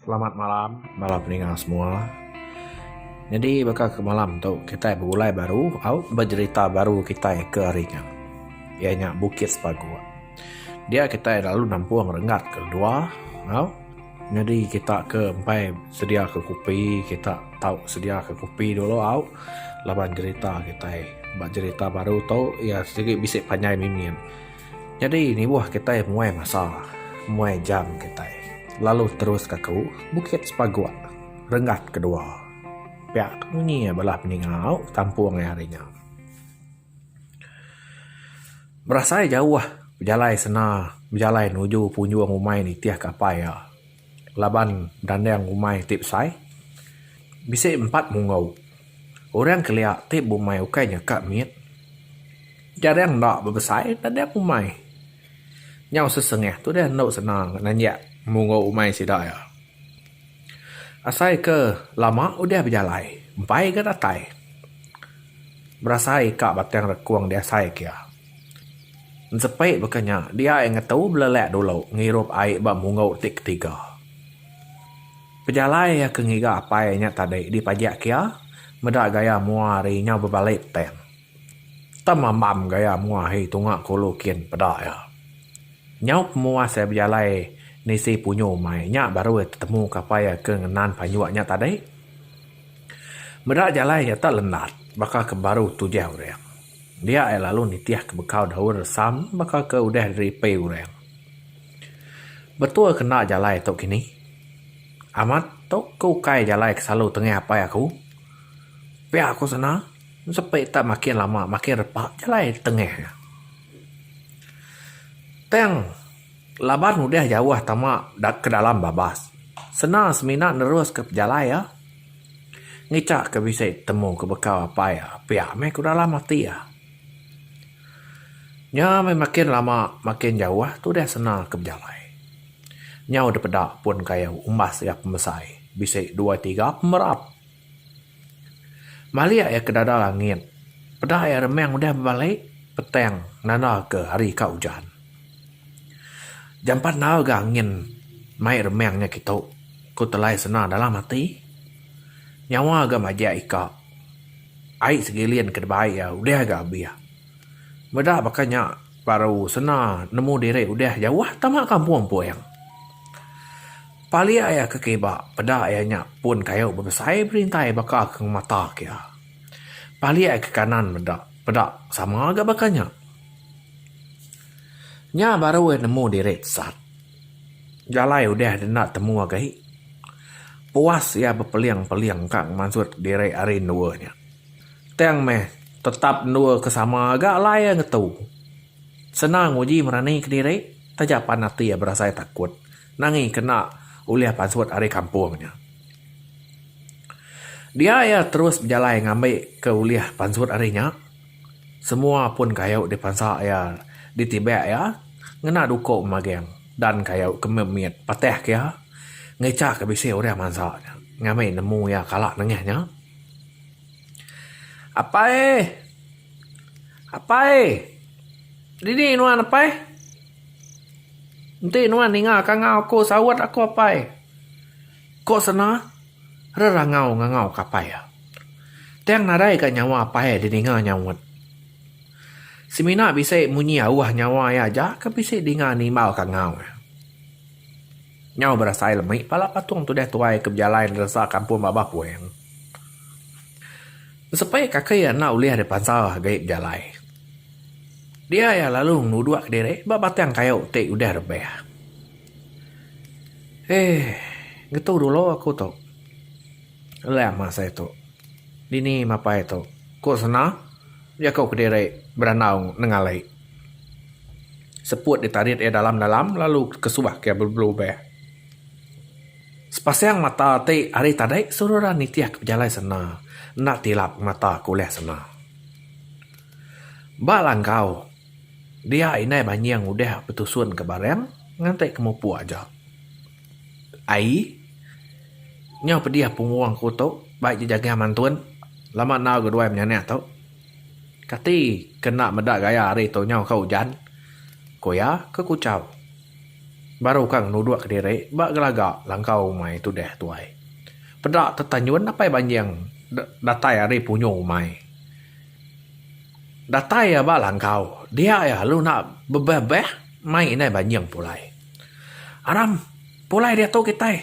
Selamat malam bala peninga semua. Nyadi baka ke malam tu kitai begulai baru au bejerita baru kitai ke hari nya iya nya Bukit Sepagu. Dia kitai lalu nampung renggat ke dua au nyadi kita ke empai sedia ke kopi kita tau sedia ke kopi dulu au laban jerita kitai. Ba jerita baru tu iya sigi bisi panjai mimit. Nyadi nibuh kitai muai masa, muai jam kitai lalu teruska aku Bukit Sepaguk renggat kedua. Pia ke munyi bala peningau kampung ai hari nya. Berasai jauh bejalai sena bejalai nuju punjung umai nitihka apai iya. laban dandang umai ti besai bisi empat mungau. Orang kelia ti bumai ukai nya ka mit jarang enda bebesai dandang umai. Nyau sesengah tu deh enda senang nanjak mungau umai sida iya. Asai ke lama udah bejalai empai ga datai berasai ka batang rekung diasai ke iya. Ensepi baka nya, dia ai ngetu belelak dulu ngirup ai ba munggu ti ketiga. Pejalai iya ke ngiga apai nya tadi dipajak kia meda gaya mua hari nyau bebali petang. Tem ambam gaya mua hari tunga ke ulu kin peda iya. Nyau pemuas iya bejalai nisi punyu mai nya baru iya tetemu ke apai iya ke ngenan panjuk nya tadi. Meda jalai nya tu lendat baka ke baru tujah orang. Dia iya lalu nitih ke bekau daun resam baka ke udah diripai orang. Betul ke enda jalai tu kini? Amat, tu ke ukai jalai ke selalu tengah apai aku. Pia aku sena, sepi tak makin lama makin repa jalai tengah iya. Tang laban udah jauh tama ke dalam babas, sena semina neruska pejalai iya. Ngichak ke bisi temu ke bekau apai iya, piak meh ku dalam ati iya. Nya meh makin lama makin jauh tu deh sena ke bejalai. Nyau dipeda pun kayu umbas iya pemesai bisi dua tiga pemerap. Malik iya ke dada langit, peda iya remang udah bebali petang nanda ke hari ka ujan. Jampat enggau ga angin mai remang nya kitu ku telai sena dalam ati. Nyawa ga majak ika. Ai segilin ke dibai iya udah ga abih. Meda baka nya baru sena nemu diri udah jauh tama kampung puing. Palik iya ke kiba peda iya nya pun kayu bebesai berintai baka ke ngemata ke iya. Palik iya ke kanan meda peda sama ga baka nya. Nya baru udah nemu diri sat. Jalai udah deh enda temu agi. Puas iya bepeling-peling ka ngemansut diri ari endur nya. Tang meh tetap endur ke sama ga alai iya ngetu. Senang uji merani ke diri taja pan ati iya berasai takut nangi kena ulih pansut ari kampung nya. Dia iya terus bejalai ngambi ke ulih pansut ari nya. Semua pun kayu dipansa iya ditibak iya ngena duko maging dan kayu ke mit mit patah ke iya ngecha ke bisi orang mansa iya ngambi nemu iya kala nengah nya Apai apai dini nuan apai enti nuan ninga ka ngau aku saut aku apai ko sena. rerangau ngangau kapai. Tang nadai ka nyawa apai didinga nyaut. Semina bisi munyi auh nyawa iya aja ke bisi dinga nimbal kangau. Nyau berasai lemi pala patung tudah tuai ke bejalai neresa kampung babah puang. Sepi kaki iya enda ulih dipansa agi bejalai. Dia iya lalu ngeluduk diri ba batang kayu ti udah rebah. Heh. Ngetu dulu aku tu. Alah mah sai tu. Dini mapai tu. Ku sena, jaku kediri berandau nengale. Seput ditarit iya dalam-dalam lalu kesuah ke belubeh. Sepasang mata ti ari tadi suruh ra nitih ke pejalai sena. Enda tilap mata ke ulih sena. Ba langkau. Dia indai banying udah betusun ke barang nganti ke mupuk aja. Ai nyau pedih punggung aku tu bai je jagah mantun lama enggau ga duai menyanak tu. Kati ke enda meda gaya hari tu nyau ka ujan? ku iya ke kuchau. Baru ka ngenuduk ke diri ba gelaga langkau umai tudah tuai. Peda tetanyun apai banying datai ari punyu umai. Datai iya ba langkau, dia iya lalu enda bebeh-beh mai indai banjing pulai. Aram, pulai diatu kitai.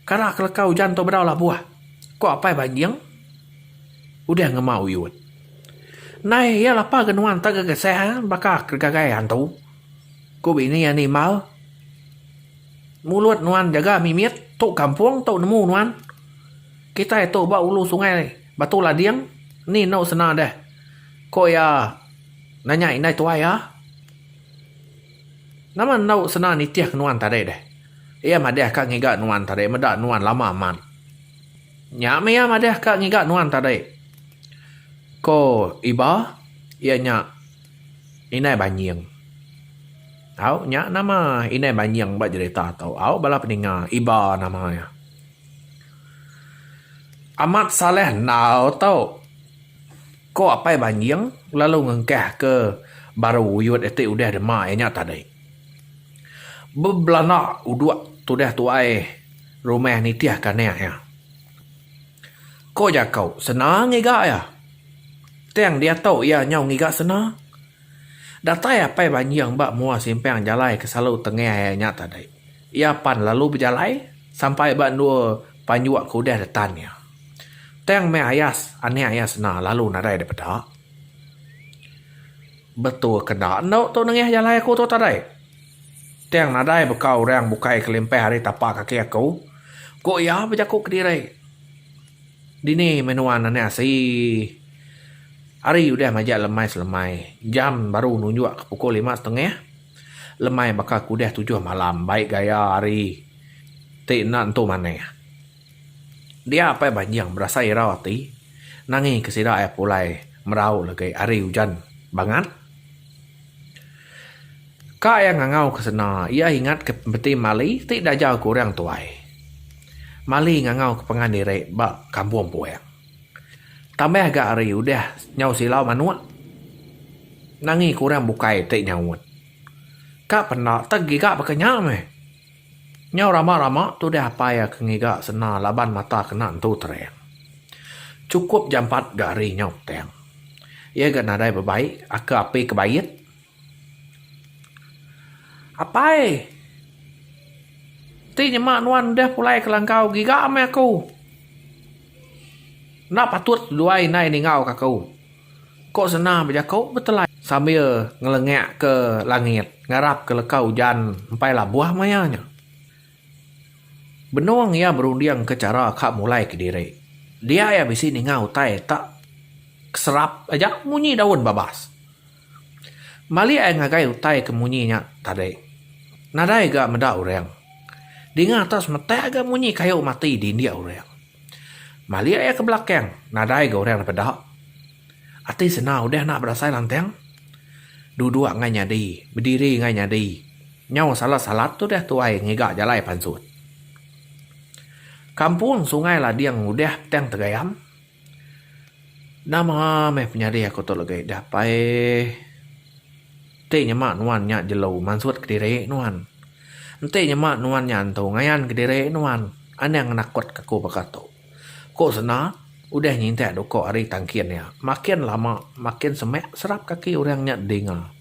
Kara ke leka ujan tu bedau labuh, ku apai banjing udah ngema uyut. Nai iya lapar ke nuan tega geseh baka ke gagai antu, ku bini iya nimbal. Mulut nuan jaga mimit, tu kampung tu nemu nuan. Kitai tu ba ulu sungai. Batu Lading, Ni enu sena deh? Ko iya nanya indai tuai iya. Nama enu sena nitih ke nuan tadi deh? Iya madih ka ngiga nuan tadi meda nuan lama amat. Nya meh iya madih ka ngiga nuan tadi. Ko Iba, Iya nya Indai Banying. Au, nya nama Indai Banying ba jerita tu? Au bala peninga, Iba nama iya. Amat Saleh enggau tu ko Apai Banjing lalu ngengkah ke baru uyut iti udah dema iya nya tadi. Bebelanda udok tudah tuai rumah nitih ke anak iya. Ko jako senang ngiga iya. Tang diatu iya nyau ngiga senang. Datai Apai Banjing ba mua simpang jalai ke selalu tengah iya nya tadi. Iya pan lalu bejalai sampai ba endur panjua ke udah detan iya. Tang meh ayas anak iya sena lalu nadai dipeda. Betul ke enda endo tu nengah jalai aku tu tadai. Tang nadai baka orang bukai kelimpah ari tapa kaki aku, ku iya bejaku kediri. Dini meh nuan anak asi. Hari udah majak lemai selemai, jam baru nunjukka pukul lima setengah. Lemai baka ke udah tujuh malam bai gaya hari ti enda nentu manah. Dia Apai Banjing berasai irau ati nangi ke sida iya pulai merau legi hari ujan bangat. Ka iya ngangau ke sena iya ingat ke pemeti Mali ti dajau ke orang tuai. Mali ngangau ke pengan diri ba kampung Puang. Tambah ga ari udah nyau silau manuk nangi ke orang bukai ti nyaut. Ka penda teg giga baka nya meh. Nyau rama rama tudah apai ke ngiga sena laban mata kena entu terang. Chukup jampat ga ari nyau petang. Iya ga nadai bebaik aka api ke bait. Apai ti nyema nuan udah pulai ke langkau giga meh aku. Enda patut luai indai ningauka aku. Ko Senang bejaku betelai sambil ngelengak ke langit ngarap ke leka ujan empai labuh maya nya. Benung iya berunding ke chara ka mulai kediri. Dia iya bisi ninga utai tak keserap aja munyi daun babas. Malik ai ngagai utai ke munyi nya tadi. Nadai ga meda orang. Dinga atas semetak ga munyi kayu mati di indik orang. Malik ai ke belakang nadai ga orang dipeda. Ati sena udah enda berasai lantang. Duduk ngai nyadi, bediri ngai nyadi. Nyau salat-salat tu udah tuai ngiga jalai pansut. Kampung Sungai Lading udah petang tegayam. Nama meh penyadi aku tu legi dapai enti nyema nuan nya jelu mansut kediri nuan enti nyema nuan nya antu ngayan kediri nuan anang nakut ke aku baka tu ku sanda udah ngintak da uko hari tangkin iya makin lama makin semak serap kaki orang nya dinga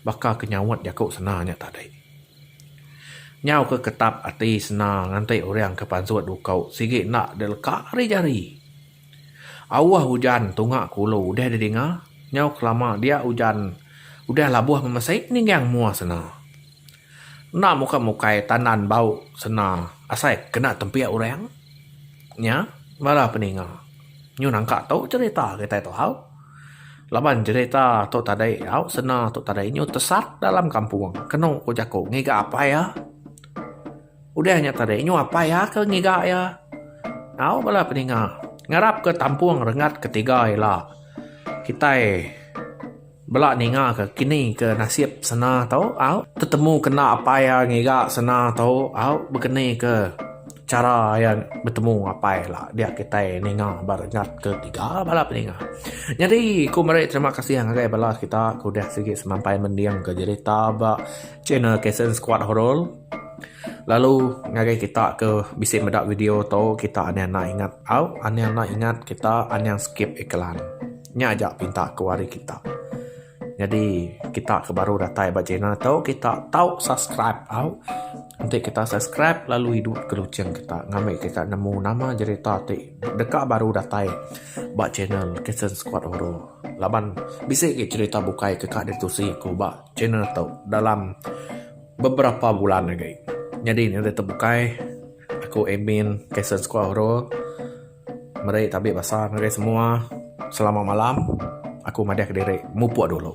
baka ke nyaut jaku sanda nya tadi. Nyau ke ketap ati sena nganti orang ke pansut uko sigi enda deleka ari jari. Auh ujan tunga kulu udah didinga nyau kelama dia ujan udah labuh memesi ninggang mua sena. Enda muka mukai tandan bau sena asai kena tempik orang nya bala peninga. Nyu nangka tu cerita kitai tu hau. Laban jerita tu tadi au sena tu tadi nyau tesat dalam kampung kenu ku jaku ngiga apai iya. Udah nya tadi nyau apai iya ke ngiga iya. Au bala peninga ngarap ke tampung rengat ke tiga ila kitai bela ninga ke kini ke nasib sena tu au tetemu kena apai iya ngiga sena tu au bekeni ke. chara iya betemu apai ila dia kitai ninga ba regat ketiga bala peninga. Nyadi ku meri terima kasih ngagai bala kita ku deh sigi semampai mending ke jerita ba channel Kasen Squad Horor lalu ngagai kita ke bisi meda video tu kita ania enda ingat au ania enda ingat kita ania skip iklan. Nya aja pinta ku ari kita. Nyadi kita ke baru datai ba channel tu kita tau subscribe au. Enti kita subscribe lalu idup ke lucheng kita ngambi kita nemu nama jerita ti deka baru datai ba channel Kasen Squad Horror. Laban bisi agi jerita bukai ke ka ditusi aku ba channel tu dalam beberapa bulan agi. Nyadi ne deh tu bukai aku admin Kasen Squad Horror. Meri tabi basa ngagai semua selamat malam aku madahka diri mupuk dulu.